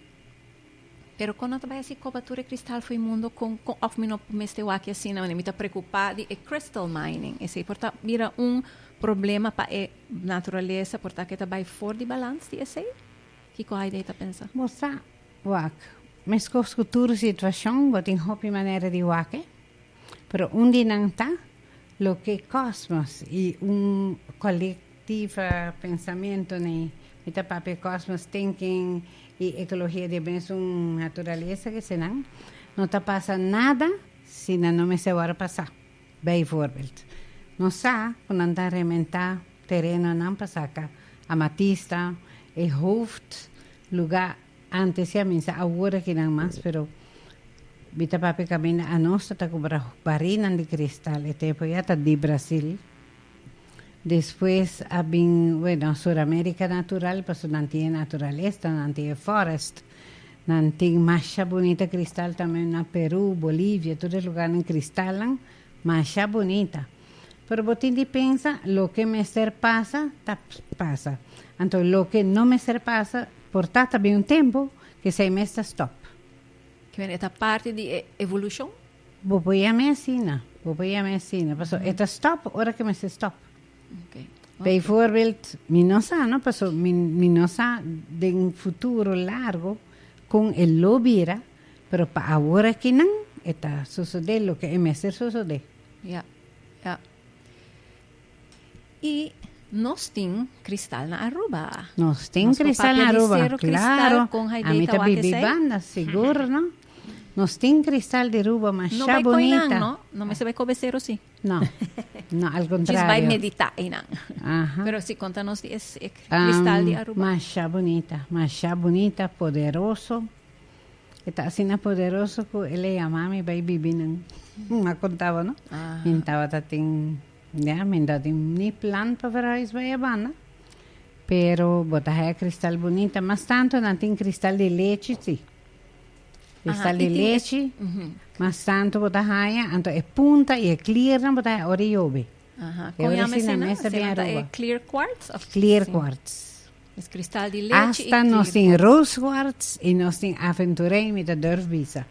Pero kon no ta bai hasi kobatura e kristal for e mundo, kon, kon, òf mi no mester wak asina, wanneer mi ta preokupá di e crystal mining. Esei por ta bira un problema pa e naturalesa, por ta ke ta bai for di balans di esei? Kiko Haydee ta pensa? Bo sa wak meskos ku tur situashon, bo tin hopi manera di wake, pero un di nan ta loke kòsmos i un kòlek Tiva pensamentu na i. Mi ta papia cosmos thinking y ecologia di e mes un naturalesa ki eseinan. No ta pasa nada si nan no mester wòrdu pasá. Bijvoorbeeld, nos sa ku nan ta rementá terenonan pa saka amatista, e hooft lugá ántes ya minsa awor aki nan mas, pero mi ta papia kaminda anos ta ta kumbra barinan di kristal e tempu ya ta di Brasil. Despues a bin, bueno, Suramérica natural, paso nan tin e naturalesta, nan tin e forest, nan tin masha bunita cristal tambe na Peru, Bolivia, tur e lugarnan cristalnan masha bunita. Pero bo tin di pensa, loke mester pasa ta pasa. Anto loke no mester pasa por ta ta bin un tempo, k'esei mes ta stop. Ki mester ta parti di e evolucion? Bo por yami asina, bo por yami asina, paso e ta stòp ora ke mester stòp. Beivoorbeeld, mi no sa, no, paso mi, mi no sa den un futuro largo kon e lo bira, pero pa awor akinan e ta sosodé loke e mester sosodé. Ya, ya. Y nos tin cristal na Aruba. Nos tin cristal na Aruba, claro. A mi ta bibi banda, sigur no. Nos tin cristal di Aruba masha bunita. No bay coinan, no mester bay cobe cero si. No, no al contrario. Just bay medita einan. Aha. Pero si conta nos di e cristal di Aruba. Masha bunita, masha bunita, poderoso. E ta asina poderoso cu el a yama mi bay bibi nan. Mi a contaba, no? Mi tabata tin, ya, mi no tin ni plan pa verhuis bay e banda. Pero bo ta haya cristal bunita. Mas tanto nan tin cristal di lechi, si. Cristal di lechi. Mas tanto bo ta haya. Anto e punta y e clearnan bo ta haya ora y yobe. Con yama esina? Esina ta e clear quartz? Clear quartz. Asta nos tin Rooswarts y nos tin Aventurijn mi ta durf bisa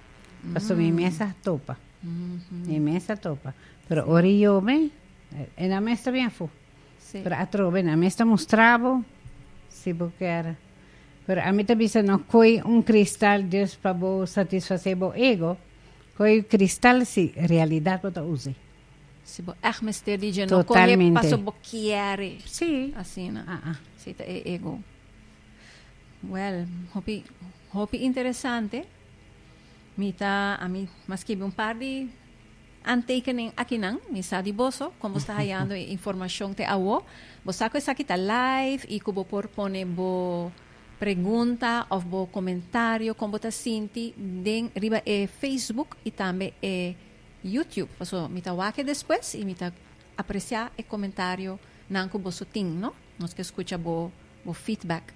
paso mi mes a topa mi mes a topa pero ora y yo ben e nan mes ta bin afu pero atrobe nan mes ta mustra bo si bo kier pero ami ta bisa no coy un cristal just pa bo satisface bo ego coy cristal si realidad bo ta usa. Si bo èg mester di dje, no kohe paso bo kiere. Sí. Asina. A'a. Sí, ta e ego. Wèl, hopi, hopi interesante. Mi ta, ami, mi a skibi un par di aantekening akinan. Mi sa di boso kon bo sta hayando e informashon te awo. Bo sa ku esaki ta live i ku bo por pone bo pregunta òf bo komentario kon bo ta sinti den riba e Facebook i tambe e YouTube paso mi ta wak e despues y mi ta aprecia e comentario nan cu boso tin no nos ke scucha bo bo feedback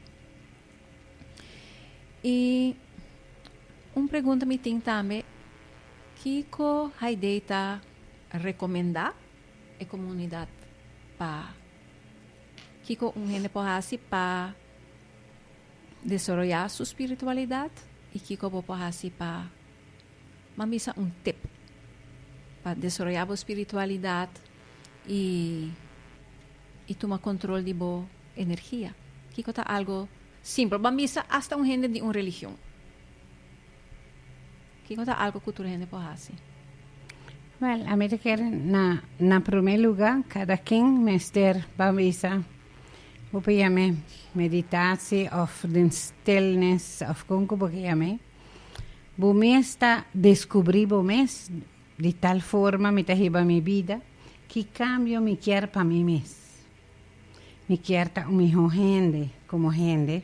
y un pregunta mi tin tambe kico Haydee ta recomenda e comunidad pa kico un hende por haci pa desoroya su spiritualidad y kico bo por haci pa Ma mi sa un tip pa desaroyá bo spiritualidat i i tuma kontrol di bo energia. Kiko ta algo simpel? Bo a misa asta un hende di un religion. Kiko ta algo ku tur hende por hasi? Wel, ami ta kere na na promé lugá kada ken mester ba bisa bo por yam'é meditasi òf den stilnes òf kon ku bo ke yam'é. Bo mes ta descubri bo mes di tal forma mi ta hiba mi bida, ki cambio mi kier pa mi mes. Mi kier ta un miho hende como hende,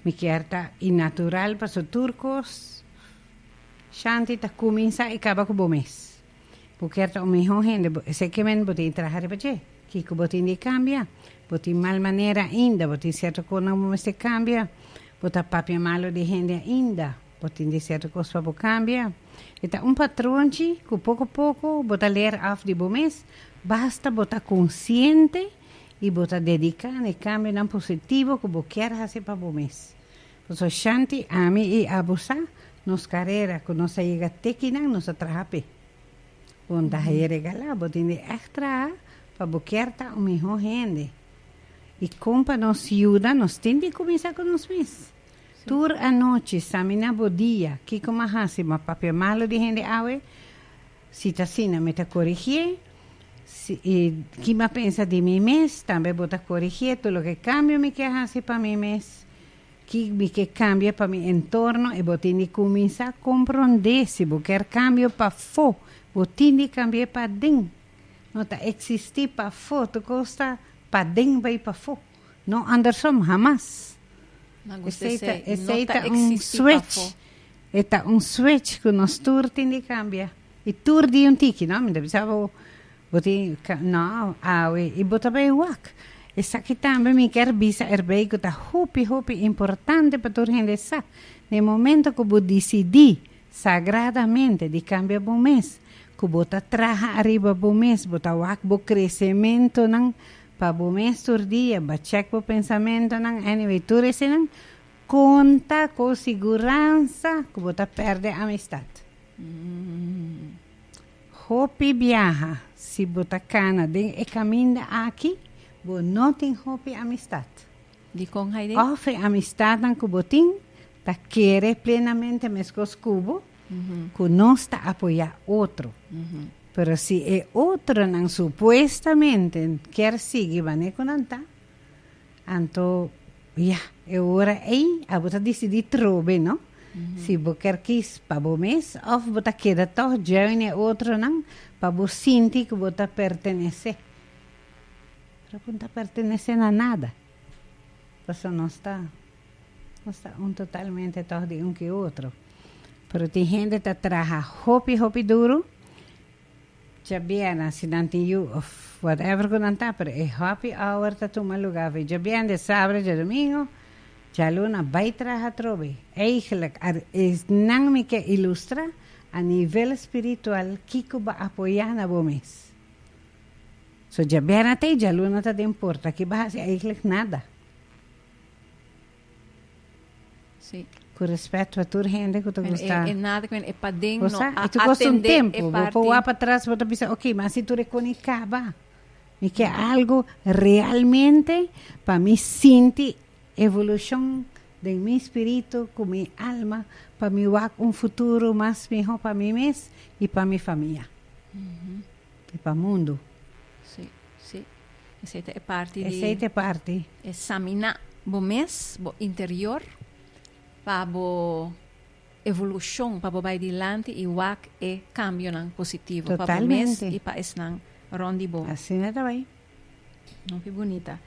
mi kier ta y natural paso tur cos shanti ta cuminsa y caba cu bo mes. Bo kier ta un mihó hende, bo esei ke men bo tin traha riba dje. Kiko bo tin di kambia? Bo tin mal manera ainda, bo tin sierto kosnan ku bo mester kambia, bo ta papia malu di hende ainda, bo tin di sierto kos pa bo kambia. E ta un patron chi ku poko poko bo ta leer af di bo mes, basta bo ta konsiente i bo ta dediká na e kambionan positivo ku bo kier hasi pa bo mes. Pasobra shanti ami i Abu sa nos karera ku nos a yega te kinan nos a traha p'e. Bonda a regalá bo den e ègt traha pa bo kier ta un mihó hende. I kon pa nos yuda nos tin di kuminsá ku nos mes? Tur anochi, samina bo dia, kiko m'A hasi? M'A papia malu di hende awe? Si ta asina mi ta korigié, si i ki mi a pensa di mi mes, tambe bo ta korigié tur loke kambio mi ke hasi pa mi mes, ki mi ke kambia pa mi entorno i bo tin di kuminsá komprondé si bo ker kambio pafó, bo tin di kambié paden. No ta eksistí pafó, tur kos ta paden bai pafó. No Andersom hamas. Nan ku esei ta esei ta un switch e ta un switch ku nos tur tin di kambia i tur di un tiki no mi ta bisa bo bo tin no awe i bo ta bai wak esaki tambe mi ker bisa erbei ku ta hopi hopi importante pa tur hende e sa den momento ku bo disidi sagradamente di kambia bo mes ku bo ta traha ariba bo mes bo ta wak bo kresementonan Pa bo mes tur dia ba check bo pensamentonan anyway tur eseinan konta ku siguransa ku bo ta perde amistad. Hopi biaha si bo ta kana den e kaminda aki bo no tin hopi amistad. Dikon Haidee? Of e amistadnan ku bo tin ta kere plenamente meskos ku bo ku nos ta apoyá otro. Pero si e otronan supuestamente kier sigui bané ku nan ta, anto ya, e ora ei abo ta disidí trobe, no? Si bo kier kis pa bo mes òf bo ta keda tòg join e otronan pa bo sinti ku bo ta pertenesé. Pero bo no ta pertenesé na nada. Pasobra nos ta, nos ta un totalmente tòg di un ku e otro. Pero tin hende ta traha hopi hopi duru djabier nan si nan tin yu of whatever ku nan ta pero e happy hour ta tuma luga for djabier de sabra dje domingo djaluna bai traha atrobe eigenlik a nan mi ke ilustra a nivel spiritual kiko ba apoya na bo mes so djabier na ta y djaluna ta den porta ki ba hasi eigenlik nada. Sí. Cu respet pa tur hende cu ta Bueno, gusta. e, e nada que e paden no Cosa? a Y tu costa un atende e tempo, bo parti. po wa pa tras, bo ta bisa, ok, ma si tu reconi caba, mi ke algo realmente pa mi sinti evolucion den mi spiritu cu mi alma, pa mi wak un futuro mas miho pa mi mes y pa mi famia. Di pa mundu. Sí, sí. Esei ta e parti di. Esei ta e parti. Esaminá bo mes, bo interior, pa bo evolushon, pa bo bai dilanti i wak e kambionan positivo. Totalmente. Pa bo mes i pa esnan rònt di bo. Asina ta bai. Hopi bunita.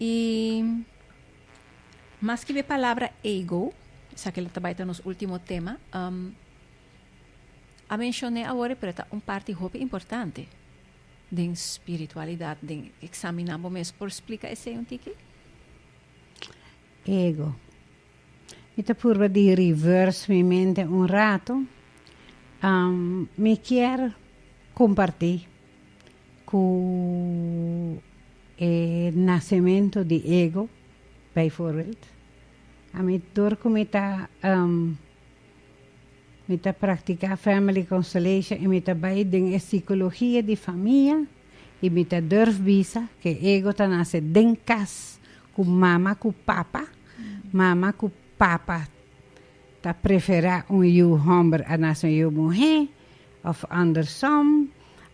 I maski bo e palabra ego, esaki lo ta bai ta nos último tema. a menshon'é awor e preta un parti hopi importante den spiritualidat, den eksaminá bo mes. Por splika esei un tiki? Ego. Mi ta purba di reverse mi mente un ratu. Mi kier kompartí ku e nasementu di ego, bijvoorbeeld, ami dor ku mi ta. Mi ta praktiká Family Constellation i mi ta bai den e sikologia di famia i mi ta durf bisa ku e ego ta nase den kas ku mama ku papa. Mama ku papa ta preferá un yu hòmber a nase un yu muhé òf andersom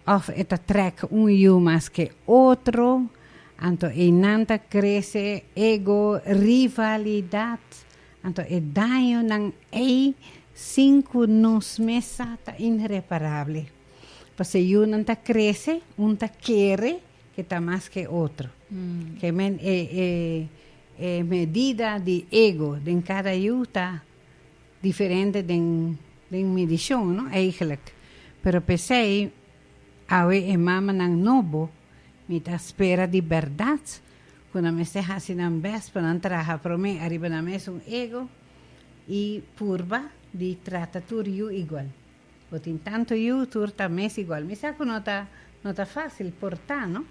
òf e ta trèk un yu mas ke otro. Anto einan ta krese ego, rivalidat, Anto e dañonan ei sin ku nos mes sa ta inreparable. Pasobra yunan ta krese, un ta kere ke ta mas ke otro. Ke men e e medida di ego den kada yu ta diferente den midishon, no? Eigelijk. Pero p'esei awe e mamanan nobo mi ta spera di bèrdat Cu nan mester haci nan best pa nan traha prome ariba nan mesun ego y purba di trata tur yu igual. Bo tin tanto yu, tur ta mes igual. Mi sa cu no ta no ta facil por ta, no?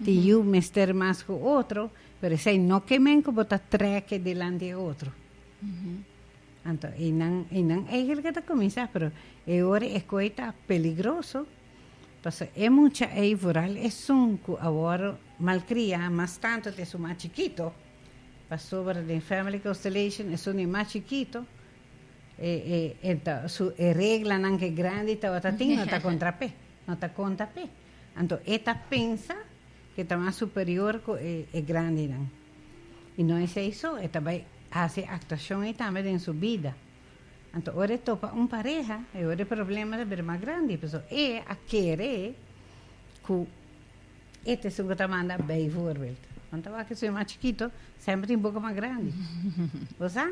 Tin yu mester mas cu otro, pero esai no ke men cu bo ta treke dilanti e otro. Anto, e nan, e nan eigenlica ta cuminsa, pero e ora e coe ta peligroso, Paso e mucha ei vooral esun cu awor malcria mas tanto t'e su mas chikito, pasobra den Family Constellation esun e mas chikito e reglanan cu e grandi tabata tin no ta contra p'e, no ta conta p'e. Anto e ta pensa cu e ta mas superior cu e grandinan. Y no esei so, e ta bay haci e actuacion ei tambe den su bida. Anto ora e topa un pareha e ora e problema ta bira mas grandi pasobra e a kere ku e ta esun ku ta manda bai voorbeeld wan ta wak e suña mas chikito semper tin boka mas grandi bo sa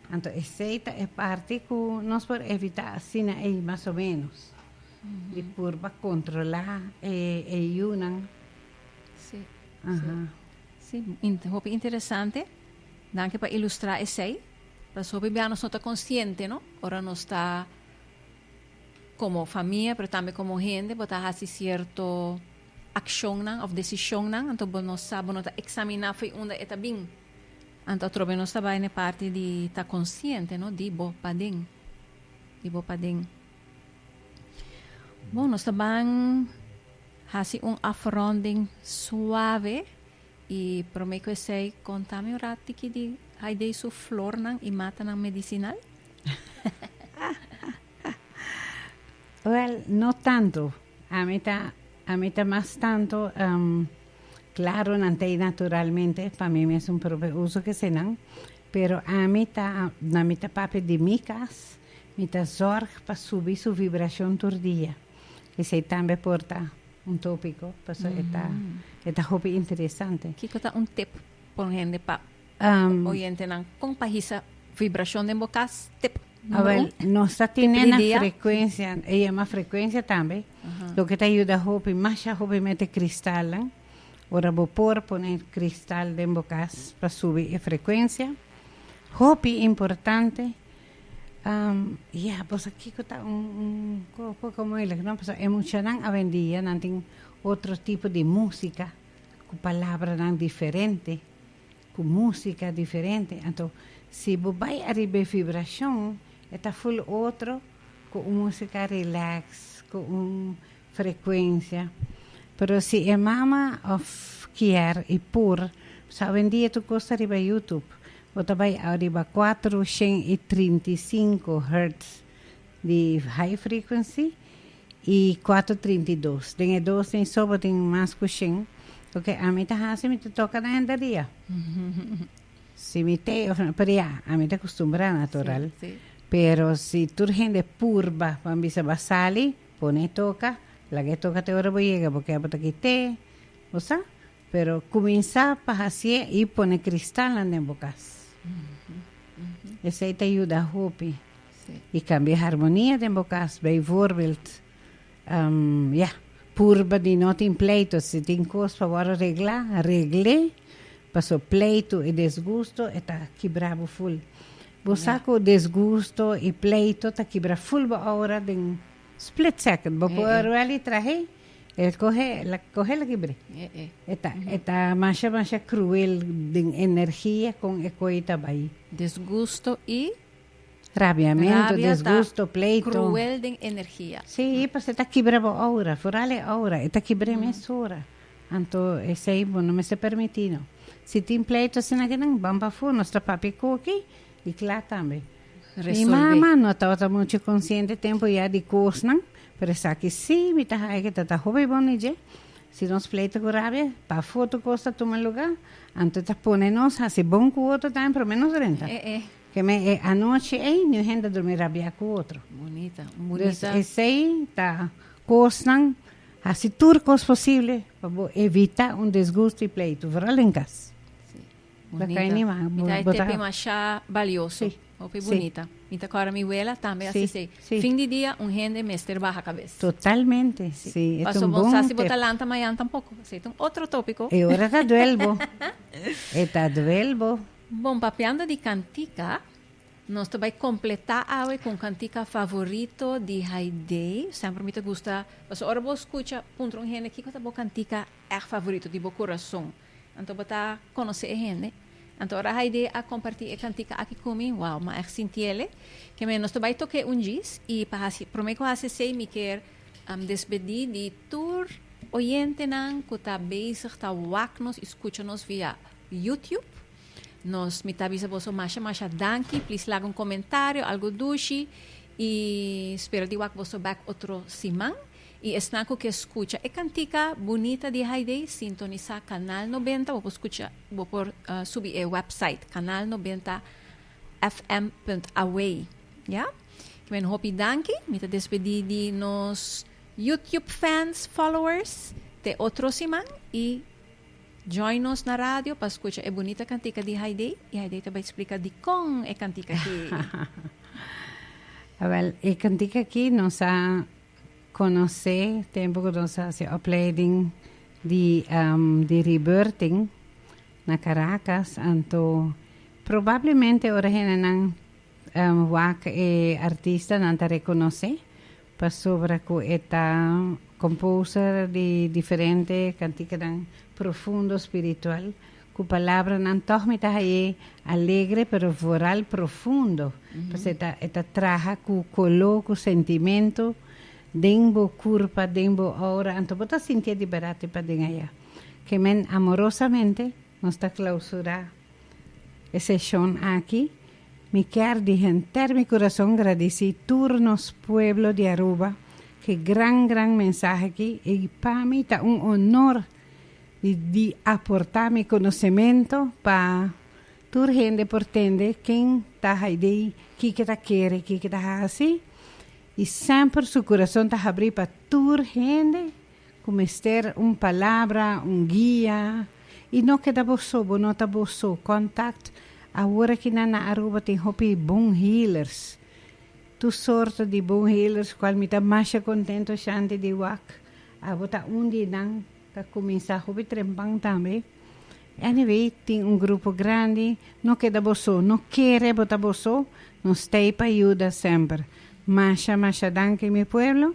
anto esei ta e parti ku nos por evitá asina ei mas o menos di purba kontrolá e e yunan si si hopi interesante danki pa ilustrá esei. Pasobra bia nos no ta konsiente no ora nos ta komo famia pero tambe komo hende bo ta hasi sierto akshonnan òf desishonnan anto bo no sa bo no ta eksaminá fo'i unda e ta bin anto atrobe nos ta bai na e parti di ta konsiente no di bo paden di bo paden bon nos ta ban hasi un afronding suave. I prome ku esei, konta mi un ratiki di Haidee su flornan i matanan medisinal? Wèl, no tantu. Ami ta, ami ta mas tantu klaru nan ta i naturalmente, pa mi mes un prope uso ku esenan. Pero ami ta, na mi ta papia di mi kas, mi ta zòrg pa subi su vibrashon tur dia. Esei tambe por ta. Un tópiko pasobra e ta e ta hopi interesante. Kiko ta un tip por hende pa oyentenan kon pa hisa vibrashon den bo kas? Tip numero un, tip di dia. Nos ta tene nan frekuensia, e yama frekuensia tambe, loke ta yuda hopi, masha hopi mete kristalnan. Ora bo por pone kristal den bo kas pa subi e frekuensia. Hopi importante Ya, bo sa kiko ta un un poko moeilig, no? Pasobra e muchanan awendia nan tin otro tipo di músika, ku palabranan diferente, ku músika diferente. Anto si bo bai ariba e vibrashon e ta ful otro, ku un músika rilèks, ku un. frecuencia. Pero si e mama of kier y por sa hoendia tu cosa riba youtube bo ta bay riba cuatro shen y trinta y cinco hertz di high frequency y cuatro trinta y dos den e dos tin so bo tin mas cu shen ok ami ta haci mi ta toca na hende dia si mi te of no pero ya ami ta custumbra natural pero si tur hende por ba pabisa ba sali Pone toka, laga e toka te ora bo yega bo ke bo ta ki te, bo sa, pero kuminsá pa hasié i pone kristal nan den bo kas. Esei ta yuda hopi i kambia e harmonia den bo kas. Bei voorbild, ya, purba di no tin pleito, si tin kos pa wòrdu reglá, regl'é, paso pleitu i desgusto e ta kibra bo ful. Bo sa ku disgusto i pleito ta kibra ful bo aura den split second. Bo pui un ruel i trahe e kohe la kohe la kibr'é. E ta e ta masha masha kruel den energia kon e koi ta bai. Disgusto i Rabiamentu, rabia ta disgusto, pleito. kruel den energia. Si, pasobra ta kibra bo aura, foral e aura. E ta kibr'é mes ora. Anto esei bo no mester permití no. Si tin pleito asina aki nan ban pafó, nos ta papia koki i kla tambe. Mi mama no tabata muchu konsiente tempu ya di kosnan, pero esaki sí mi ta haña ke ta ta hopi bon di dje. Si nos pleito ku rabia, pafó tur kos ta tuma lugá, anto ta pone nos hasi bon ku otro tambe promé nos renta. Ke men e anochi ei niun hende a durmi rabiá ku otro. Des esei ta kosnan Hasi tur kos posible pa bo evitá un disgusto i pleitu, veral den kas. Lo ka anima bo ta. Mi ta e tepin mashá balioso. Hopi bunita. Mi ta kòrda mi wela tambe a sisei, fin di dia un hende mester baha kabes. Totalmente. Si, e ta un bon tep. Paso bo no sa si bo ta lanta mayan tampoko. Paso e ta un otro topiko. E ora ta duel bo. E ta duel bo. Bon, papiando di kantika. Nos ta bai completá awe cu un cantica favorito di Haidee. Semper mi ta gusta pasobra ora bo scucha puntra un hende kico ta bo cantica echt favorito di bo corazon, anto bo ta conoce e hende. Anto ora Haidee a comparti e cantica aki cu mi, wow, mi a echt sintiele. Keme nos ta bai toke un djis y pa haci, prome cu a haci esey mi kier despedí di tur oyentenan cu ta bezig ta wak nos y scucha nos via YouTube. Nos mi ta bisa boso masha masha danki please laga un comentario algo dushi y spero di wak boso back otro siman y esnan cu ke scucha e cantica bunita di Haydee sintonisa canal noventa bo por scucha bo por subi e website canal noventa FM punt away ya kiba e un hopi danki mi ta despedi di nos YouTube fans followers te otro siman y. Join nos na radio pa scucha e bunita cantica di Haidee y Haidee ta bay splica dicon e cantica aki. Wel, e cantica aki nos a conoce tempo cu nos a haci opleiding di um, di rebirthing na Caracas. Anto, probablemente ora hende nan um, wak e artista nan ta reconoce. Pasobra ku e ta komposta di diferente kantikanan profundo spiritual, ku palabranan tòg mi ta haye alegre pero voral profundo, pasobra e ta e ta traha ku koló, ku sentimentu den bo kurpa, den bo oura, anto bo ta sintié di bèrdat di paden aya. Kemen amorosamente nos ta klausurá e seshon aki. Mi kier di henter mi kurason gradisí tur nos pueblo di Aruba ke gran gran mensahe aki i pa mi ta un honor di di aportá mi konosementu pa tur hende por tende ken ta haidei, kiko ta kere, kiko ta hasi i semper su kurason ta habrí pa tur hende. Ku mester un palabra, un guia. I no keda bo so, bo no ta bo so. Kòntakt, Awor aki nan na Aruba tin hopi bon healers. Tur sorto di bon healers, kual mi ta masha kontento shanti di wak. Abo ta un di nan, ta kuminsá hopi trempan tambe. Anyway, tin un grupo grandi. No keda bo so, no kere bo ta bo so. Nos t'ei pa yuda semper. Masha, masha danki mi pueblo.